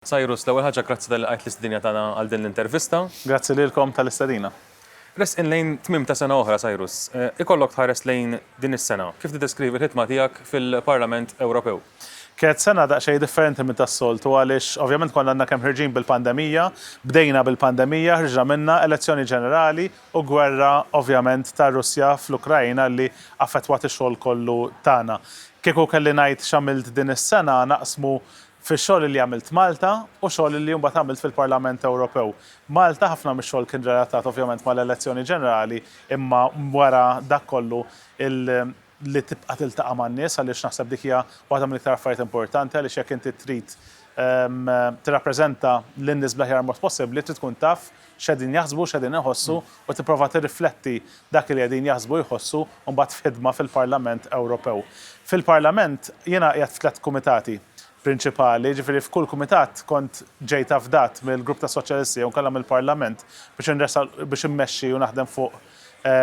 Cyrus, l-ewwel ħaġa grazzi talli lqajt l-istidinja tagħna għal din l-intervista. Grazzi lilkom tal-istedina. Resqin lejn tmiem ta' sena oħra, Cyrus. Ikollok tħares lejn din is-sena, kif tiddeskrivi l-ħidma tiegħek fil-Parlament Ewropew? Kienet sena daqsxejn differenti minn tas-soltu għaliex ovvjament konna għadna kemm ħerġin bil-pandemija, bdejna bil-pandemija, ħriġna minnha, elezzjoni ġenerali u gwerra ovvjament tar-Russja fl-Ukraina li affettwat ix-xogħol kollu tagħna. Kieku kelli ngħid x'għamilt din is-sena naqsmu fix-xogħol li għamilt Malta u xogħol li mbagħad għamilt fil-Parlament Ewropew. Malta ħafna mix-xogħol kien relatat ovvjament mal-elezzjoni ġenerali imma wara dak kollu li tibqa' tiltaqa' man-nies għaliex naħseb dik hija waħda mill-iktar affarijiet importanti għaliex jekk inti trid tirrappreżenta lin-nies bl-aħjar mod possibbli trid tkun taf x'qegħdin jaħsbu, x'qegħdin iħossu u tipprova tirrifletti dak li qegħdin jaħsbu u jħossu mbagħad f'ħidma fil-Parlament Ewropew. Fil-Parlament jiena qiegħed f'tliet kumitati prinċipali, jiġifieri f'kull kumitat kont ġejt afdat mill-Grupp tas-Soċjalisti jew inkella mill-Parlament biex inressaq biex immexxi u naħdem fuq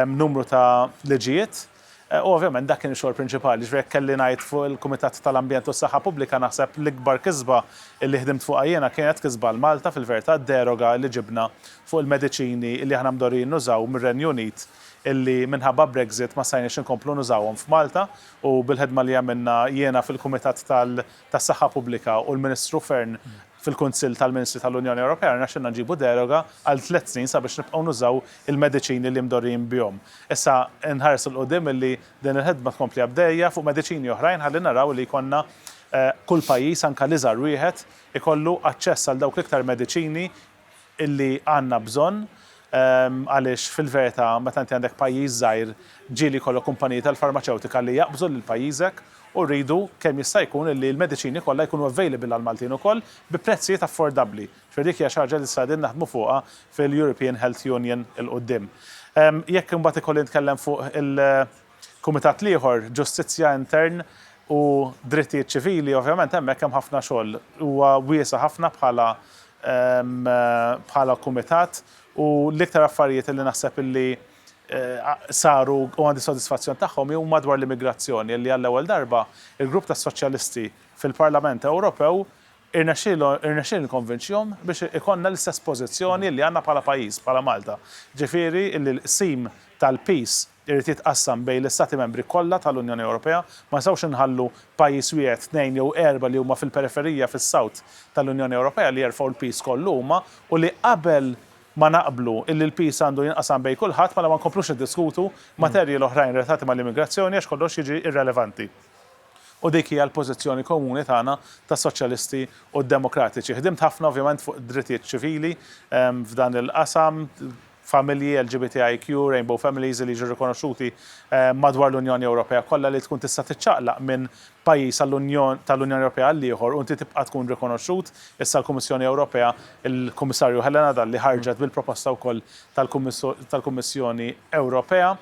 numru ta' liġijiet. U ovvjament dak kien ix-xogħol prinċipali. Jiġifieri jekk kelli ngħid fuq il-Kumitat tal-Ambjent u s-Saħħa Pubblika naħseb l-ikbar kisba li ħdimt fuqha jiena kienet kisba għal Malta fil-verità d-deroga li ġibna fuq il-mediċini li aħna mdorrijin nużaw mir-Renju Unit illi minħabba Brexit ma stajniex inkomplu nużawhom f'Malta u bil-ħidma li għamilna jiena fil-Kumitat tal tas-Saħħa Pubblika u l-Ministru Fearne fil-Kunsill tal-Ministri tal-Unjoni Ewropea rnexxilna nġibu deroga għal tliet snin sabiex nibqgħu nużaw il-mediċini li mdorrijin bihom. Issa nħares 'l quddiem illi din il-ħidma tkompli għaddejja fuq mediċini oħrajn ħalli naraw li jkollna kull pajjiż, anke l-iżgħar wieħed, ikollu aċċess għal dawk l-iktar mediċini illi għandna bżonn għaliex fil-verità meta inti għandek pajjiż żgħir ġieli jkollok kumpaniji tal-farmaċewtika li jaqbżu lil pajjiżek u rridu kemm jista' jkun illi l-mediċini kollha jkunu available għall-Maltin ukoll bi prezzijiet affordabbli. Ġifieri dik hija xi ħaġa li issa qegħdin naħdmu fuqha fil-European Health Union 'il quddiem. Jekk imbagħad ikolli nitkellem fuq il Kumitat l-ieħor, Ġustizzja, Intern u Drittijiet Ċivili, ovvjament hemmhekk hemm ħafna xogħol. Huwa wiesa' ħafna bħala bħala kumitat u l-iktar affarijiet illi naħseb illi saru u għandi sodisfazzjon tagħhom huma dwar l-immigrazzjoni illi għall-ewwel darba l-grupp tas-Soċjalisti fil-Parlament Ewropew irnexxielu irnexxielni nikkonvinċihom biex ikollna l-istess pożizzjoni illi għandna bħala pajjiż, bħala Malta. Ġifieri illi l-qsim tal-piż irid jitqassam bejn l-Istati Membri kollha tal-Unjoni Ewropea. Ma nistgħux inħallu pajjiż wieħed, tnejn jew erba' li huma fil-periferija, fis-South, tal-Unjoni Ewropea li jerfgħu l-piż kollu huma u li qabel ma naqblu illi l-piż għandu jinqasam bejn kulħadd mela ma nkomplux niddiskutu materji l-oħrajn relatati mal-immigrazzjoni għax kollox jiġi irrelevanti. U dik hija l-pożizzjoni komuni tagħna tas-Soċjalisti u d-Demokratiċi. Ħdimt ħafna ovvjament fuq id-drittijiet ċivili f'dan il-qasam, familji LGBTIQ, Rainbow Families, li jiġu rikonoxxuti madwar l-Unjoni Ewropea kollha li tkun tista' tiċċaqlaq minn pajjiż tal-Unjoni Ewropea għall-ieħor u inti tibqa' tkun rikonoxxut. Issa l-Kummissjoni Ewropea, il-Kummissarju Helena Dalli ħarġet bil-proposta wkoll tal-Kummissjoni Ewropea.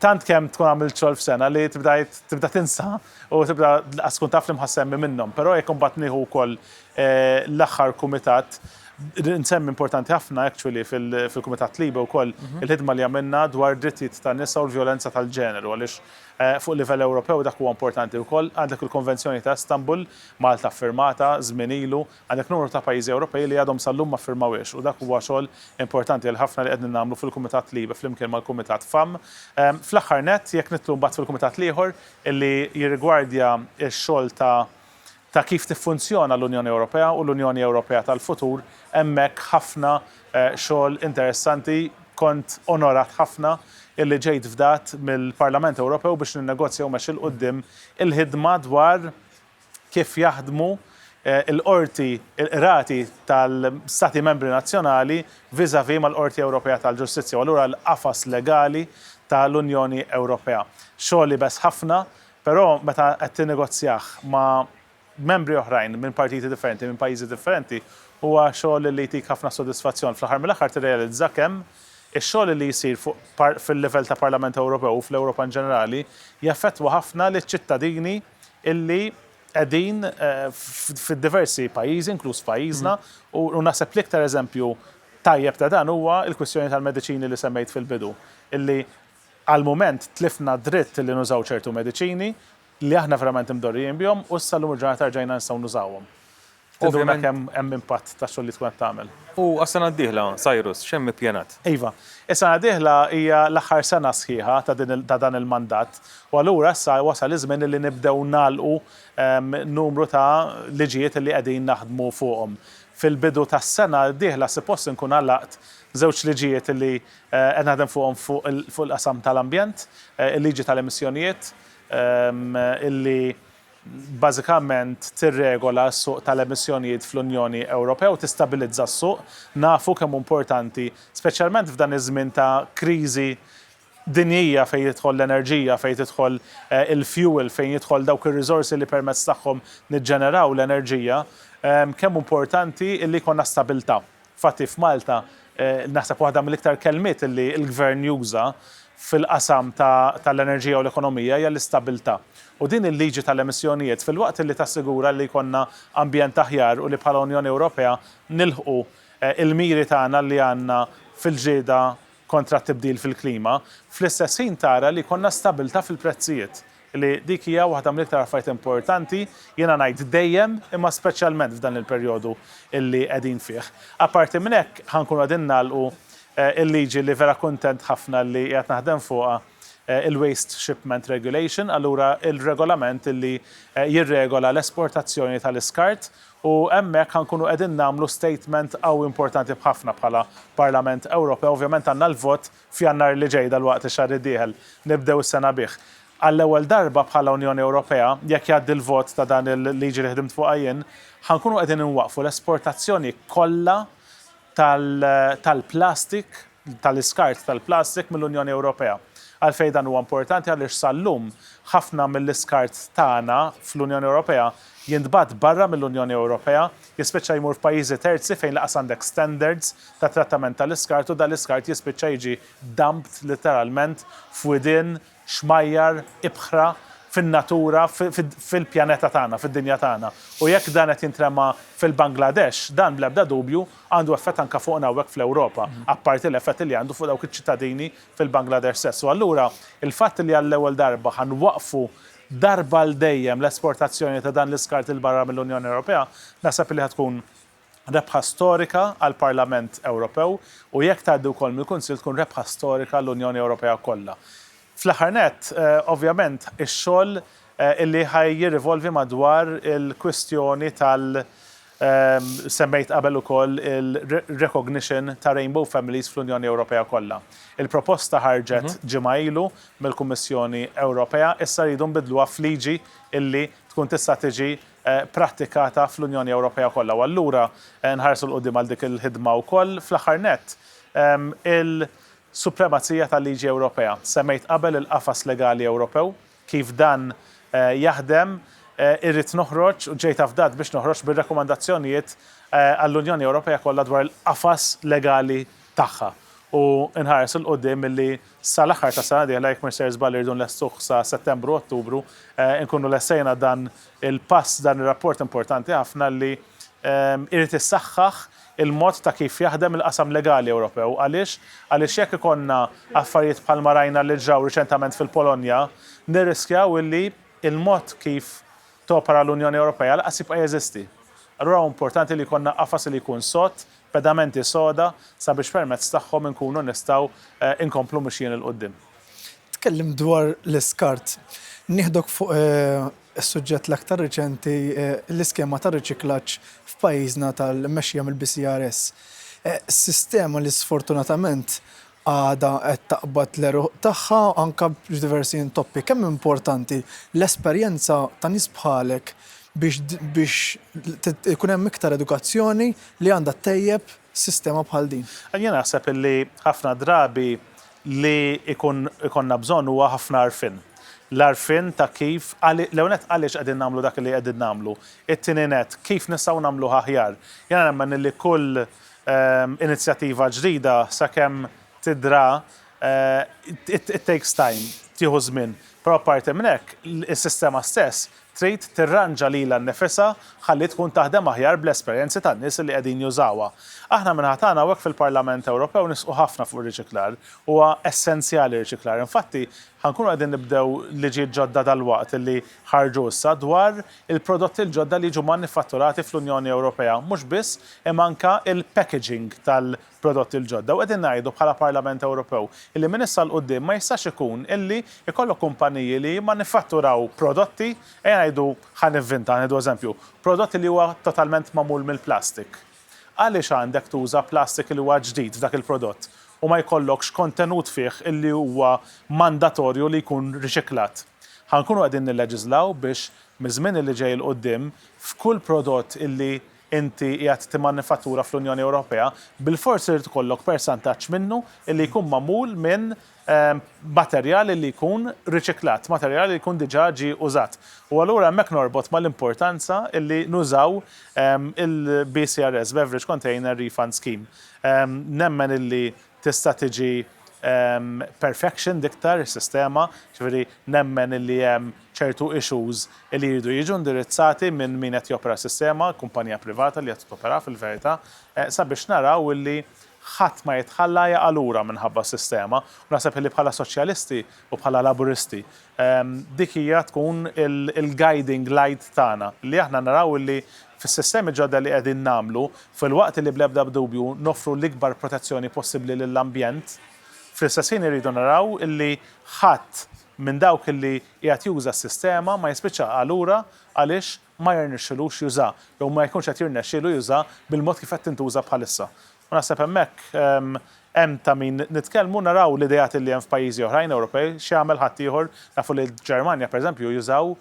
Tant kemm tkun għamilt xogħol f'sena li tibda tinsa u tibda lanqas tkun taf li mħa ssemmi minnhom. Però jekk imbagħad nieħu wkoll l-aħħar kumitat, nsemmi importanti ħafna actually fil-Kumitat LIBE wkoll il-ħidma li għamilna dwar id-drittijiet tan-nisa u l-vjolenza tal-ġeneru għaliex fuq livell Ewropew dak huwa importanti wkoll. Għandek il-Konvenzjoni ta' Istanbul, Malta ffirmatha żmien ilu, għandek numru ta' pajjiżi Ewropej li għadhom sal-lum ma ffirmawhiex u dak huwa xogħol importanti għal ħafna li qegħdni nagħmlu fil-Kumitat LIBE flimkien mal-Kumitat FEMM. Fl-aħħar nett, jekk nidħlu mbagħad fil-kumitat l-ieħor illi jirrigwardja x-xogħol ta' ta' kif tiffunzjona l-Unjoni Ewropea u l-Unjoni Ewropea tal-futur, hemmhekk ħafna xogħol interessanti, kont onorat ħafna illi ġejt fdat mill-Parlament Ewropew biex ninnegozja u mexxi 'l quddiem il-ħidma dwar kif jaħdmu l-qorti, il-qrati tal-Stati Membri nazzjonali vis-à-vis mal-Qorti Ewropea tal-Ġustizzja u allura l-qafas legali tal-Unjoni Ewropea. Xogħol iebes ħafna Però meta qed tinnegozjah ma' membri oħrajn minn partiti differenti, minn pajjiżi differenti, huwa xogħol li jtik ħafna sodisfazzjon. Fl-aħħar mill-aħħar tirrealizza kemm ix-xogħol li jsir fuq fil-livell ta' Parlament Ewropew u fl-Ewropa in ġenerali jaffettwa ħafna liċ-ċittadini li qegħdin fid-diversi pajjiżi, inkluż f'pajjiżna, u naħseb l-iktar eżempju tajjeb ta' dan huwa l-kwistjoni tal-mediċini li semmejt fil-bidu, li Għall-mument tlifna d-dritt li nużaw ċertu mediċini li aħna verament imdorrijin bihom u issa llum il-ġurnata rġajna nistgħu nużawhom. Tinduna kemm hemm impatt tax-xogħol li tkun qed tagħmel. U għas-sena d-dieħla, Cyrus, x'hemm ippjanat? Iva, is-sena d-dieħla hija l-aħħar sena sħiħa ta' din ta' dan il-mandat u allura issa wasal iż-żmien li nibdew nagħlqu numru ta' liġijiet li qegħdin naħdmu fuqhom. Fil-bidu tas-sena d-dieħla sipost inkun għalaqt żewġ liġijiet li Qed naħdem fuqhom fuq il-qasam tal-ambjent, il-liġi tal-emissjonijiet illi bażikament tirregola s-suq tal-emissjonijiet fl-Unjoni Ewropea u tistabilizza s-suq. Nafu kemm hu importanti, speċjalment f'dan iż-żmien ta' kriżi dinjija fejn tidħol l-enerġija, fejn tidħol il-fjuwil, fejn jidħol dawk ir-riżorsi li permezz tagħhom niġġeneraw l-enerġija, kemm hu importanti illi jkollna stabilità Fatti f'Malta, naħseb waħda mill-iktar kelmiet li l-Gvern juża fil-qasam tal-enerġija u l-ekonomija hija l-istabilità. U din il-liġi tal-emissjonijiet, filwaqt li tassigura li jkollna ambjent aħjar u li bħala Unjoni Ewropea nilħqu l-miri tagħna li għandna fil-ġlieda kontra t-tibdil fil-klima, fl-istess ħin tara li jkollna stabilità fil-prezzijiet li dik hija waħda mill-iktar affarijiet importanti, jiena ngħid dejjem, imma speċjalment f'dan il-perjodu li qegħdin fih. Apparti minn hekk, ħa nkunu qegħdin nagħlqu l-liġi li vera kuntent ħafna li qiegħed naħdem fuqha, il-Waste Shipment Regulation, allura r-regolament li jirregola l-esportazzjoni tal-iskart, u hemmhekk ħa nkunu qegħdin nagħmlu statement qawwi importanti b'ħafna bħala Parlament Ewropew, ovvjament għandna l-vot F'Jannar li ġej, dalwaqt ix-xahar id-dieħel, nibdew is-sena bih. Għall-ewwel darba bħala Unjoni Ewropea, jekk jgħaddi l-vot ta' dan il-liġi li ħdimt fuqha jien, ħa nkunu qegħdin inwaqqfu l-esportazzjoni kollha tal-plastik, tal-iskart tal-plastik mill-Unjoni Ewropea. Għalfejn dan huwa importanti? Għaliex sal-lum ħafna mill-iskart tagħna fl-Unjoni Ewropea jintbagħat barra mill-Unjoni Ewropea, jispiċċa jmur f'pajjiżi terzi fejn lanqas għandek standards ta' trattament tal-iskart u dal-iskart jispiċċa jiġi dumped litteralment f'widien xmajjar, ibħra, fin-natura, fil-pjaneta tagħna, fid-dinja tagħna. U jekk dan qed jintrema fil-Bangladesh, dan bl-ebda dubju għandu effett anke fuqna hawnhekk fl-Ewropa, apparti l-effetti li għandu fuq dawk iċ-ċittadini fil-Bangladesh stess. U allura, il-fatt li għall-ewwel darba ħa nwaqqfu darba għal dejjem l-esportazzjoni ta' dan l-iskart 'il barra mill-Unjoni Ewropea, naħseb li ħa tkun rebħa storika għall-Parlament Ewropew u jekk tgħaddi wkoll mill-Kunsill tkun rebħa storika għall-Unjoni Ewropea kollha. Fl-aħħar nett, ovvjament, ix-xogħol li ħa jirrivolvi madwar il-kwistjoni tal-, Semmejt qabel ukoll il-recognition ta' rainbow families fl-Unjoni Ewropea kollha. Il-proposta ħarġet ġimgħa ilu mill-Kummissjoni Ewropea, issa rridu nbiddluha f'liġi illi tkun tista' tiġi prattikata fl-Unjoni Ewropea kollha u allura nħarsu 'l quddiem għal dik il-ħidma wkoll. Fl-aħħar nett, il-supremazija tal-liġi Ewropea. Semmejt qabel il-qafas legali Ewropew Kif dan jaħdem, Irrid noħroġ u ġejt afdat biex noħroġ bir-rakkomandazzjonijiet għall-Unjoni Ewropea kollha dwar il-qafas legali tagħha u nħares 'il quddiem milli sal-aħħar tas-sena d-dieħla, jekk m'isir żball irridu nlestuh sa Settembru, Ottubru, inkunu lestejna dan il-pass, dan ir-rapport importanti ħafna li jrid issaħħaħ il-mod ta' kif jaħdem il-qasam legali Ewropew. Għaliex? Għaliex jekk ikollna affarijiet bħalma rajna li ġraw riċentament fil-Polonja, nirriskjaw illi l-mod kif topera l-Unjoni Ewropea lanqas jibqa' jeżisti. Allura hu importanti li jkollna qafas li jkun sod, pedamenti soda sabiex permezz tagħhom inkunu nistgħu nkomplu mixjin 'il quddiem. Tkellimt dwar l-iskart. Nieħdok fuq Is-suġġett l-aktar riċenti hi l-iskema ta' riċiklaġġ f'pajjiżna tal-mmexxija mill-BCRS. Sistema li sfortunatament għadha qed taqbad l-għeruq tagħha anke f'diversi intoppi. Kemm importanti l-esperjenza ta' nies bħalek biex ikun hemm iktar edukazzjoni li għandha ttejjeb sistema bħal din. Jien naħseb li ħafna drabi li jkun ikollna bżonn huwa ħafna għarfien. L-għarfien ta' kif, l-ewwel nett għaliex qegħdin nagħmlu dak li qegħdin nagħmlu, it-tieni nett kif nistgħu nagħmluha aħjar. Jiena nemmen li kull inizjattiva ġdida sakemm tidra it takes time, tieħu żmien. Però apparti minn hekk, is-sistema stess trid tirranġa lilha nnifisha ħalli tkun taħdem aħjar bl-esperjenzi tan-nies li qegħdin jużawha. Aħna min-naħa tagħna hawnhekk fil-Parlament Ewropew nisqu ħafna fuq ir-riċiklar. Huwa essenzjali r-riċiklar. Infatti, ħa nkunu qegħdin nibdew liġijiet ġodda dalwaqt li ħarġu issa dwar il-prodotti l-ġodda li jiġu manifatturati fl-Unjoni Ewropea, mhux biss, imma anke l-packaging tal-prodotti. prodotti l-ġodda u qegħdin ngħidu bħala Parlament Ewropew illi minn issa 'l quddiem ma jistax ikun illi jkollok kumpaniji li jimmanifatturaw prodotti, ejja ngħidu, ħa nivvinta, nieħdu eżempju, prodott li huwa totalment magħmul mill-plastik. Għaliex għandek tuża plastik li huwa ġdid f'dak il-prodott u ma jkollokx kontenut fih illi huwa mandatorju li jkun riċiklat? Ħa nkunu qegħdin nilleġiżlaw biex miż-żmien illi ġej 'l quddiem f'kull prodott illi inti qiegħed timmanifattura fl-Unjoni Ewropea, bilfors irid ikollok persantaġġ minnu li jkun magħmul minn materjal li jkun riċiklat, materjal li jkun diġà ġie użat. U allura hemmhekk norbot mal-importanza li nużaw il-BCRS, Beverage Container Refund Scheme. Nemmen li Tista' tiġi perfectioned iktar is-sistema, jiġifieri nemmen illi hemm ċertu issues illi jridu jiġu indirizzati minn min qed jopera s-sistema, kumpanija privata li qed toperaha fil-verità, sabiex naraw illi ħadd ma jitħalla jaqa' lura minħabba s-sistema. U naħseb illi bħala Soċjalisti u bħala Laburisti Dik hija tkun il-guiding light tagħna, li aħna naraw illi fis-sistemi ġodda li qegħdin nagħmlu, filwaqt li bl-ebda dubju noffru l-ikbar protezzjoni possibbli lill-ambjent, fl-istess ħin irridu naraw illi ħadd minn dawk illi qiegħed juża s-sistema ma jispiċċa għalura għaliex ma jirnexxilux juża, jew ma jkunx qed jirnexxielu juża bil-mod kif qed tintuża bħalissa. U naħseb hemmhekk hemm ta' min nitkellmu, naraw l-ideat li hemm f'pajjiżi oħrajn Ewropej, x'jagħmel ħaddieħor, nafu li l-Ġermanja pereżempju jużaw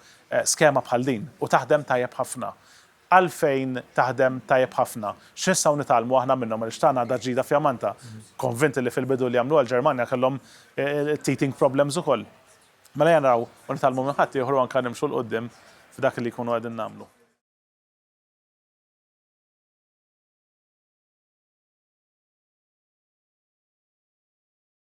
skema bħal din u taħdem tajjeb ħafna. Għalfejn taħdem tajjeb ħafna? X'nistgħu nitgħallmu aħna minnhom għaliex tagħna għadha ġdida fjamanta. Konvint li fil-bidu li għamluha l-Ġermanja kellhom teething problems ukoll. Mela ejja naraw u nitgħallmu minn ħaddieħor u anke nimxu 'l quddiem f'dak li jkunu qegħdin nagħmlu.